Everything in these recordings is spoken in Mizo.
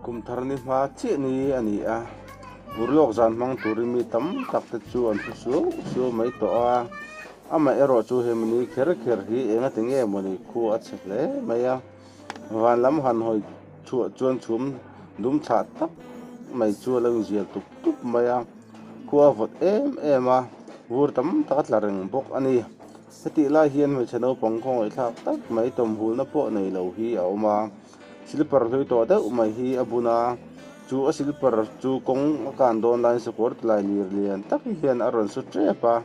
Kum thar ni hma chiah ni a ni a, vur lawk zan hmang turin mi tam tak te chu an thu suau suau mai tawh a, amaherawhchu he mihni kher kher hi eng ati nge mawni khu a chhe hle mai a. Van lam han hawi chhuah chuan chhum dum tha tak mai chu a lo inzial tup tup mai a, khua a vawt em em a, vur tam tak a tla reng bawk a ni. Hetih lai hian hmeichhe naupang khawngaihthlak tak mai tawmhulna pawh nei lo hi a awm a, silper hlui tawh deuh mai hi a bun a, chu a silper chu kawng a kan dawn laiin sakawr tilai lir lian tak hian a rawn su ṭep a,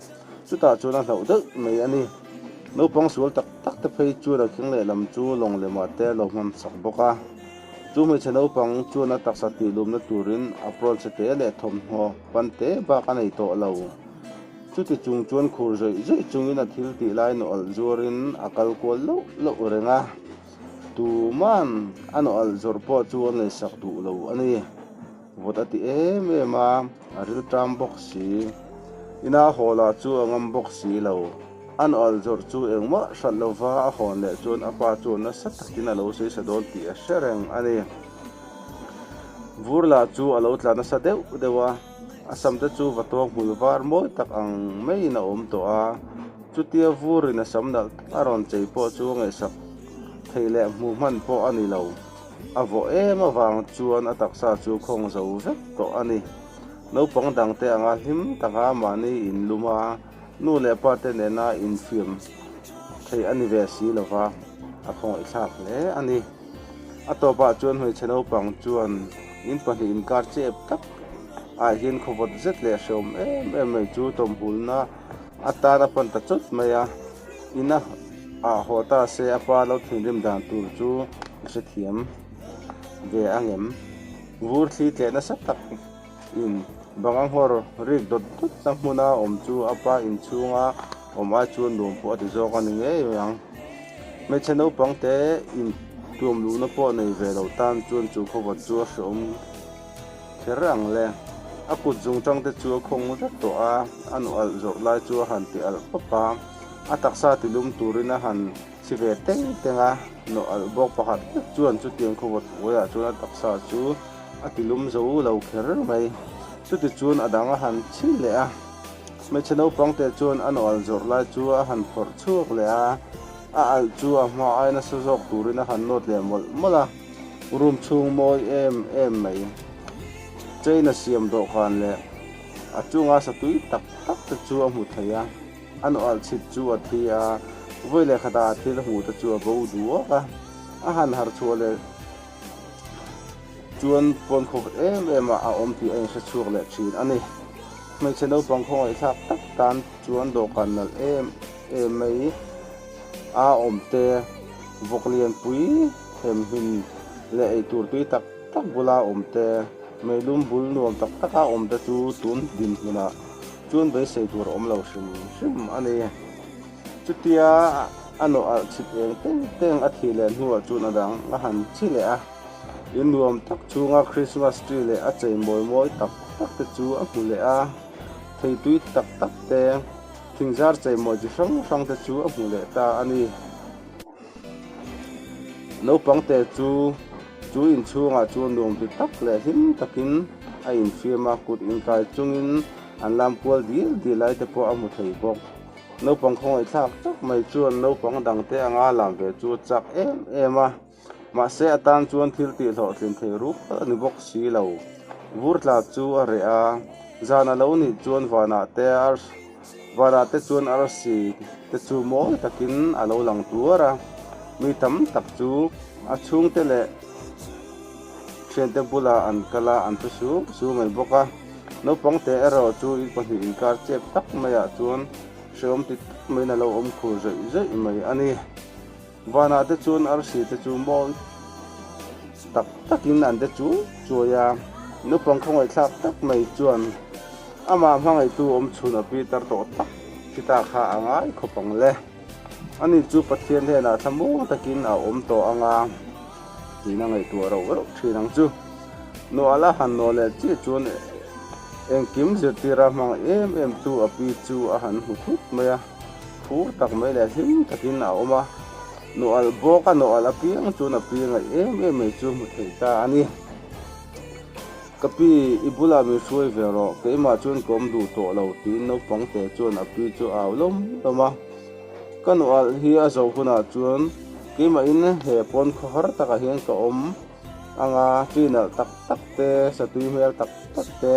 chutah chuan a hlauh deuh mai a ni. Naupang sual tak tak te phei chuan a keng leh lam chu lawng leh mah te lo hman chak bawk a. Chu hmeichhe naupang chuan a taksa tihlumna turin apron se te leh thawmhnaw pan te bak a nei tawh lo. Chuti chung chuan khur zawih zawih chungin a thil tih lai nawlh zuarin a kal kual loh loh reng a. Tuman a nawlh zawrh pawh chu a ngaisak duh lo a ni. Vawt a ti em em a, a rilṭam bawk si. Ina hawlah chu a ngam bawk si lo. A nual zawrh chu engmah hralh lo va, a hawn leh chuan a pa chu nasa takin a lo seisa dawn tih a hre reng a ni. Vurla chu a lo tla nasa deuh deuh a, a sam te chu va tuang hmul var mawi tak ang maiin a awm tawh a. Chutia Vurina sam nalh tak a rawn chei pawh chu a ngaihsak thei leh hmuh hman pawh a ni lo. A vawh em avang chuan a taksa chu khawng zo vek tawh a ni. Naupang dangte anga hlim tak a mahni in lum a, nu leh pa te nena in fiam theih a ni ve si lo va, a khawngawih thlak hle a ni. A tawpah chuan hmeichhe naupang chuan in pahnih in kar chep tak ah hian khawvawt zet leh hreawm em em mai chu tawmhulna atan a pan ta chawt mai a. In a ah haw ta se a pa lo thinrim dan tur chu ka hrethiam ve angem? Vur thli tleh nasa tak in bang a nghawr rik dawt dawt na hmuna awm chu a pa inchhunga awm ai chuan nuam pawh a ti zawk a ni ngei mai ang. Hmeichhe naupangte intuam luhna pawh nei ve lo tan chuan chu khawvawt chu a hreawm. Kher ang le. A kut zung tang te chu a khawng vek tawh a, a nu alh zawrh lai chu a han ti alh khawp a, a taksa ti lum turin a han chhi ve teng teng a, nu alh bawk pakhat vek chuan chutiang khawvawt uaiah chuan a taksa chu a ti lum zo lo kher mai. Chuti chuan a dang a han chhi leh a, hmeichhe naupang te chuan a nu alh zawrh lai chu a han phawrh chhuak leh a, a alh chu a hma aina sa zawk turin a han nawt leh mawlh mawlh a. Room chhung mawi em em mai. Train a siam dawhkan leh a chunga satui tak tak te chu a hmu thei a, a nual chhit chu a thi a, vawi leh khata a thil hmuh te chu a bo duak a, a han har chhuah leh chuan pawn khawp em em ah a awm tih a inhre chhuak leh thin a ni. Hmeichhe naupang khawngaihthlak tak tan chuan dawhkan nalh em em mai a awmte vawk lianpui. Themhin leh eitur tui tak tak bula awm te, meilum bul nuam tak taka awm te chu tun dinhmunah chuan beisei tur awm lo hrim hrim a ni. Chutia a nawh alh chhit eng teng teng a thih leh hnuah chuan a dang a han chi leh a. In nuam tak chhunga Christmas tree leh a chei mawi mawi tak tak te chu a hmu leh a. Thei tui tak tak te, thingzar chei mawi chi hrang hrang te chu a hmu leh ta a ni. Naupangte chu chu inchhungah chuan nuam ti tak leh hlim takin a infiam a, kut inkai chungin an lam kual dil dil lai te pawh a hmu thei bawk. Naupang khawngaih thlak tak mai chuan naupang dangte anga lam ve chu a chak em em a, mahse a tan chuan thil tih hlawhtlin thei rual a ni bawk si lo. Vur tla chu a reh a, zan a lo nih chuan vanah te a Vara te chuan arsi te chu mawi takin a lo lang tuar a, mi tam tak chu a chhungte leh thiante bula an kal a, an thu sung sung mai bawk a. Naupang te erawh chu in pahnih inkar chep tak maiah chuan hre awm ti tak maiin a lo awm khur zawih zawih mai a ni. Vanah te chuan arsi te chu mawi tak takin an de chuai chuai a, naupang khawngaihthlak tak mai chuan amah hmangaitu awmchhun a pitar tawh tak hi ta kha a ngai khawp ang le. A ni chu Pathian hianah thlamuang takin a awm tawh ang a tiin a ngaihtuah a rauh rauh thin ang chu. Nuala han nawl leh chiah chuan engkim zirtira hmang em em chu a pi chu a han hmu thut mai a. Phur tak mai leh hlim takin a awm a, nawhal bawk a, nawhal apiang chuan a pi ngaih em em mai chu hmu thei ta a ni. Ka pi, i bulah min hruai ve rawh, keimah chuan ka awm duh tawh lo, tiin naupang te chuan a pi chu a au lawm lawm a. Ka nawhal hi a zoh hunah chuan keimahin he pawn khaw har takah hian ka awm. Anga tlui nalh tak tak te, satui hmel tak tak te,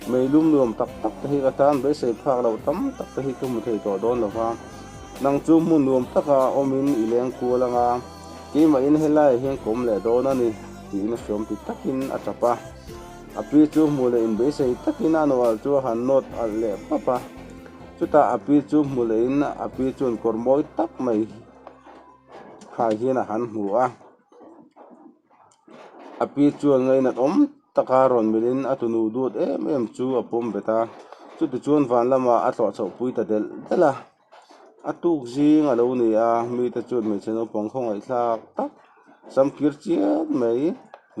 mei lum nuam tak tak te hi ka tan beisei phak lo tam tak te hi ka hmu thei tawh dawn lo va. Nang chu hmun nuam taka awmin i leng kual ang a, keimahin helai ah hian ka awm leh dawn a ni, tiin a hriawm ti takin a tap a. Api chu hmu leh in beisei takin a nual chu a han nawt alh leh pap a. Chutah api chu hmu leh in api chuan kawr mawi tak mai khai hian a han hmu a. a pi chuan ngaina awm taka rawn melh in a tunu duat em em chu a pawm bet a chuti chuan van lama a tluah chhoh pui ta del del a a tuk zing a lo ni a mi te chuan hmeichhe naupang khawngaih thlak tak samkir chian mai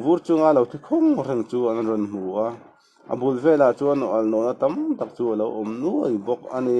vur chunga lo thi khawng reng chu an rawn hmu a a bul velah chuan nawlna tam tak chu a lo awm nuai bawk a ni.